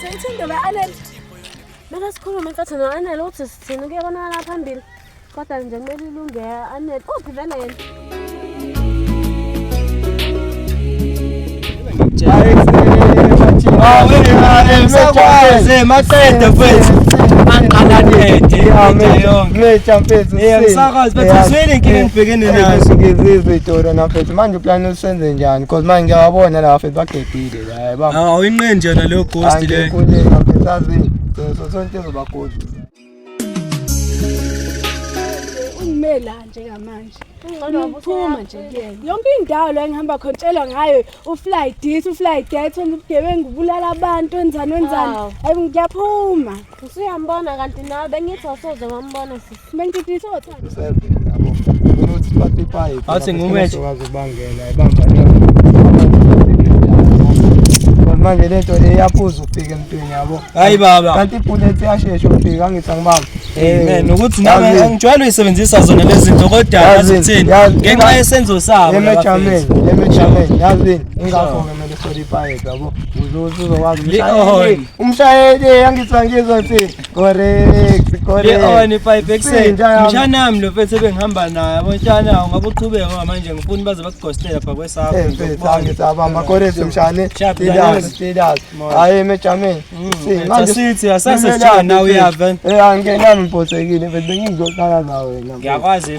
Sengithanda ba Anel. Maka sikhulume nkathi no Anel uthi sithini kuyabonakala phambili. Kodwa nje kumele ilunge Anel. Uphi vele yena? Awuyaze maqede mfethu. Anqala nede yonke. Mfethu. Yeah, msakazi mfethu uswele inkinga engibhekene nayo. Ngizizwe itora na mfethu. Manje uplan usenze njani? Because manje ngiyabona la mfethu bagedile. Hayi baba. Awuyinqeni nje na leyo ghost le. Angikho nje ngasazi. Sonke sonke zoba ghost. Umela nje kamanje. Ngicuma nje kuyena. Yonke indawo la engihamba khona tshelwa ngayo ufly this ufly that ubugebengu ubulala abantu wenzani wenzani. Hayi ngiyaphuma. Usuyambona kanti nawe bengithi awusoze wambona sisi. Bengithi isothanda. Awuthi ngumethi. manje le nto eyaphuza ukufika emntwini yabo hayi baba kanti ibullet yashesha ukufika angithi angibamba amen ukuthi nami angijwayele uyisebenzisa zona lezi zinto kodwa yazi kuthini ngenxa yesenzo sabo emejameni emejameni yazi ingakho ke mele soli ipaye yabo uzozokwazi Umshayeli angizwa ngizwa nsi. Correct, correct. Leoni pipe ekuseni. Mshana wami lo mfethu ebengihamba naye. Yabo mshana ungabe uqhubeka ngoba manje ngifuna baze bakugostela pha kwesakho. Eh mfethu angizabamba correct mshane. Status, status. Hayi mejameni. Mm, si manje sithi asase sijana nawe uyava. Eh angena ngibhosekile mfethu bengizohlala nawe. Ngiyakwazi.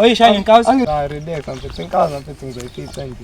Oyishaya inkawusi. Angiribeka mfethu inkawusi mfethu ngizoyifica nje.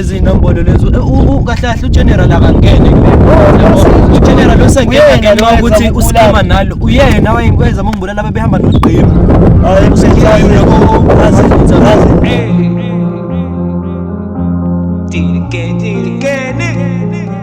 izinombolo lezo kahlahle ugeneral akangene ugeneral osengena noma ukuthi usikhama nalo uyena wayengikwenza mongibulala babehamba nogqiba hayi kusenjalo yabo azi azi Did it again, did it again.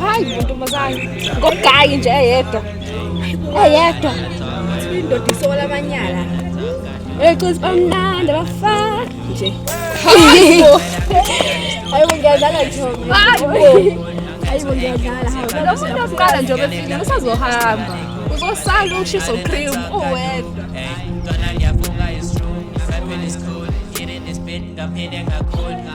hayi ntombazane ngogayi nje eyedwa eyedwa indoda isola amanyala eqisi bamnandi bafa nje ayibo ayibo ngiyadlala ntombi ayibo ngiyadlala lo muntu oqala nje obefile usazohamba uzosala ushiso cream uwedwa ngaphinde ngakhona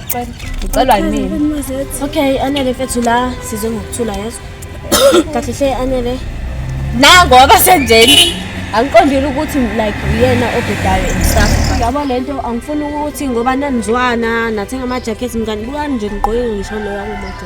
Ucelwa yimina. Okay, anele mfethu la size ngokuthula yeso. Kahle hle anele. Na ngoba senjeni. Angiqondile ukuthi like uyena obhedayo emsafu. Yabo lento angifuni ukuthi ngoba nanizwana nathenga ama jackets mngani bukani nje ngigqoke ngisho loya kumoto.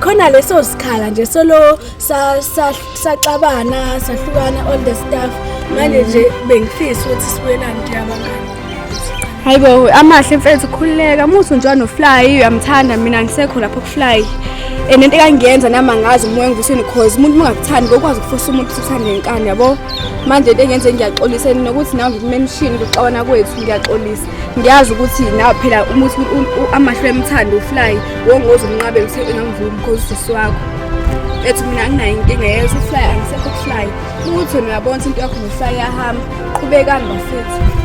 khona leso sikhala nje solo saxabana sahlukana all the stuff manje nje bengifisa ukuthi sibuyelane nje abangani hayi bo amahle mfethu khululeka muthi nje wanofly uyamthanda mina ngisekho lapho kufly and into ekangiyenza nami angazi umoya engivuseni cause umuntu ungakuthandi ngokwazi ukufosa umuntu usuthanda ngenkani yabo manje into engenze ngiyaxolisa nokuthi nawe ngikume emshini kuxabana kwethu ngiyaxolisa ngiyazi ukuthi nawe phela uma uthi amahlo emthanda ufly wongoze umnqabe ngise engamvumi because usisi wakho ethi mina anginayo inkinga yezo ufly angisekho ukufly uthi wena uyabona ukuthi into yakho nofly yahamba qhubekani bafethu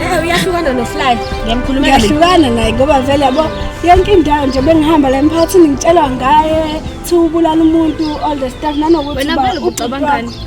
Eh uyahlukana nofly ngiyamkhuluma uyahlukana naye ngoba vele yabo yonke indawo nje bengihamba la emphakathini ngitshelwa ngaye thi ubulala umuntu all the stuff nanokuthi wena vele ucabangani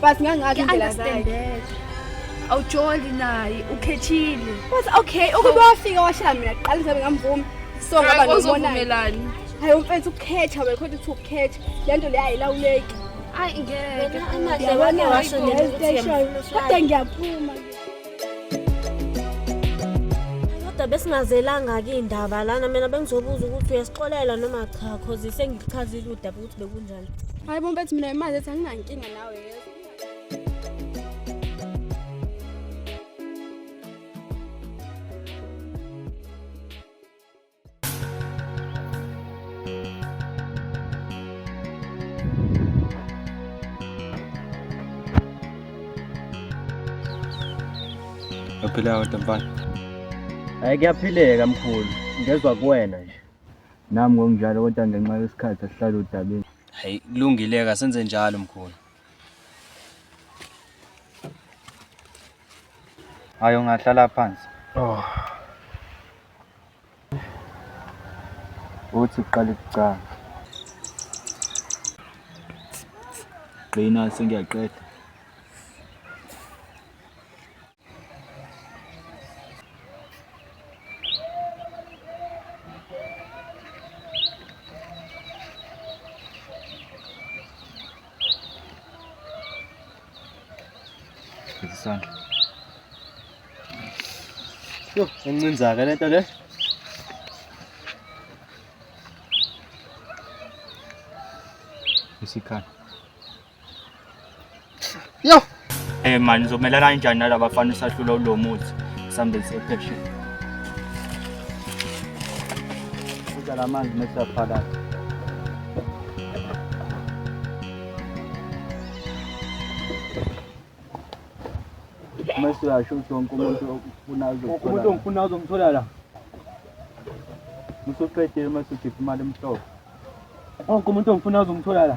But ngangathi indlela zayo. Awujoli naye ukhethile. But okay, ukube wafika washaya mina kuqala ngizabe ngamvumi. So ngaba nomonani. Hayi umfethu ukukhetha wena kodwa uthi ukukhetha. Lento le ayilawuleki. Ay ngeke. Amahle wake washo nje ukuthi kodwa ngiyaphuma. kodwa besingazelanga-ke iy'ndaba lana mina bengizobuza ukuthi uyasixolela noma cha cause sengichazile udaba ukuthi bekunjani Hayi bo mfethu mina imali ethi anginankinga nawe yezwa. Uyaphila kodwa mfana. Hayi kuyaphileka mkhulu, ngezwa kuwena nje. Nami ngokunjalo kodwa ngenxa yesikhathi asihlale udabeni. Hayi kulungile ka senze njalo mkhulu. Hayi ungahlala phansi. Oh. Uthi uqale ukucanga. Qina sengiyaqeda. isandla yho encinzake le nto le isikhala Yo. Eh man ngizomelana kanjani nalaba bafana usahlula ulo muthi sambe sepheshe. Kuja la manzi mesa phakathi. Mese uyasho ukuthi wonke umuntu ofuna uzomthola. Umuntu ongifuna uzomthola la. Musuqedile mase ukhipha imali emhlophe. Wonke umuntu ongifuna uzomthola la.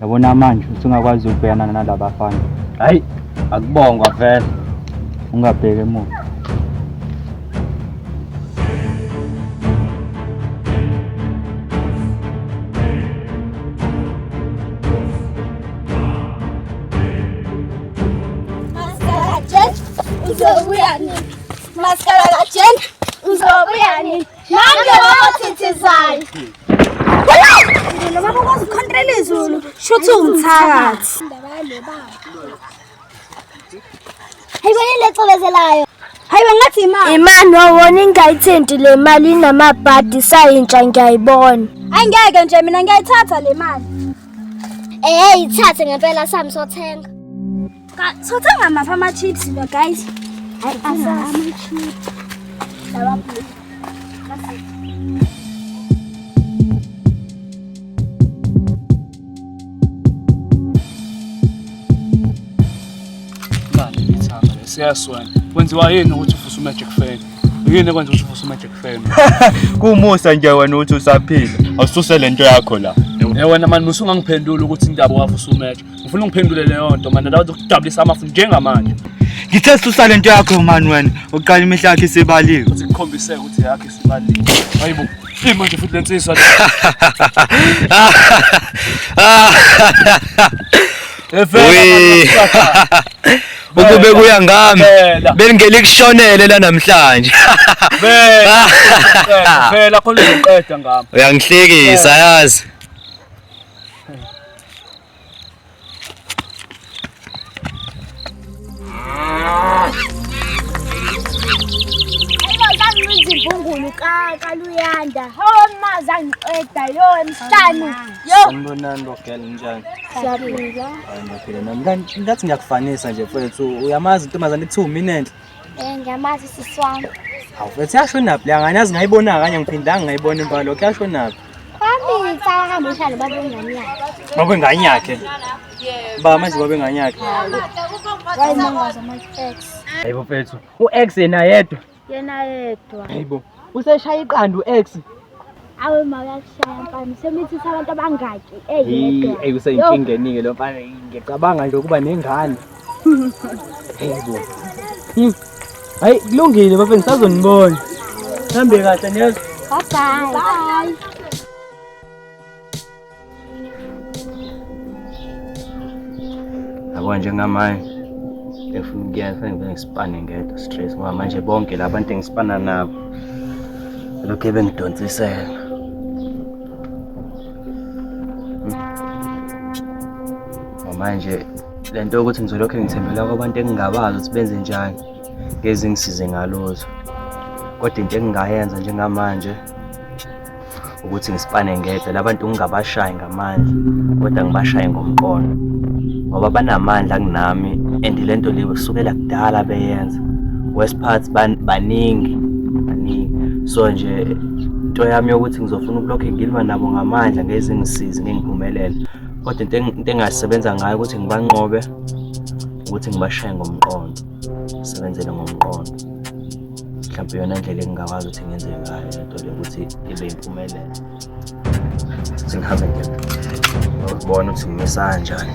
yabona manje usungakwazi ukubhekana nala bafana hayi akubongwa vele ungabheki emuva Maskara la chen, uzobuya nini? Nange wabathithizayo. Lelo baba kwazi ukhontela izulu. Shuthi umthakathi. Indaba yalo baba. Hayibo yini lecobezelayo? Hayibo ngathi imali. Imani wawona ingayithinti le mali inamabhadi sayintsha ngiyayibona. Angeke nje mina ngiyayithatha le mali. Eh, ithathe ngempela sami sothenga. Sothenga maphi ama-chips lo guys? Hayi ama-chips. Lawa blue. siyaswena kwenziwa yini ukuthi ufuse umagic fan yini ekwenza ukuthi ufuse umagic fan kumusa nje wena ukuthi usaphila awususe le nto yakho la wena mani musungangiphendula ukuthi indaba wavusa umagic Ufuna ungiphendule leyo nto manje ndawo zokudabulisa amafu njengamanje. Ngithe susale into yakho man wena. Uqala imihla yakhe isibaliwe. Sikhombise ukuthi yakhe isibaliwe. Hayibo. Ima nje futhi lensizwa. Efela. Ukube kuya ngami bengeli kushonele la namhlanje. Vela. Vela khona uzoqeda ngami. Uyangihlekisa yazi. izimbumbulu kaluyanda hawo mazi angiqeda yo emhlanu yo sanibonani bogela njani siyaphila hayi ngiyaphila nami ngathi ngiyakufanisa nje mfowethu uyamazi intombazane kuthiwa mina enhle Eh ngiyamazi sisi wami. Awu mfethu yashonaphi leya ngane yazi ngayibona kanye ngiphindanga ngayibona impala lokho yashonaphi. Kwami ngicala hamba uhlale baba wengane yakhe. Baba wengane yakhe. Ba manje baba wengane yakhe. Wayimangaza my ex. Hayibo mfethu, u-ex yena yedwa. Yena yedwa. Hayibo. Useshaya iqanda u-ex. awe makakushaya mfana semithisa abantu abangaki eyedwa eyi useyinkingenike lo mfana ngicabanga nje ukuba nengane yebo hmm. hayi kulungile bafeni sazonibona hambe kahle niyaz bye bye yabo njengamanje efuna ukuyena fanele ngibe ngisipane ngedwa stress ngoba manje bonke la bantu engisipana nabo lokhu ebengidonsisela hmm. manje le nto yokuthi ngizolokhu ngithembela kwabantu engingabazi ukuthi benze njani ngezingisize ngalozwa kodwa into engingayenza njengamanje ukuthi ngisipane ngedwa labantu ngingabashayi ngamandla kodwa ngibashaye ngomqondo ngoba banamandla kunami and le nto leyo kusukela kudala beyenza west parts baningi baningi so nje into yami yokuthi ngizofuna ukulokhu ngilwa nabo ngamandla ngezingisizi ngengiphumelele kodwa into engasebenza ngayo ukuthi ngibanqobe ukuthi ngibashaye ngomqondo sebenzele ngomqondo mhlawumbe yona ndlela engingakwazi ukuthi ngenze ngayo lento le ukuthi ibe yimpumelelo sengihambe ngiyobona ukuthi ngimisa kanjani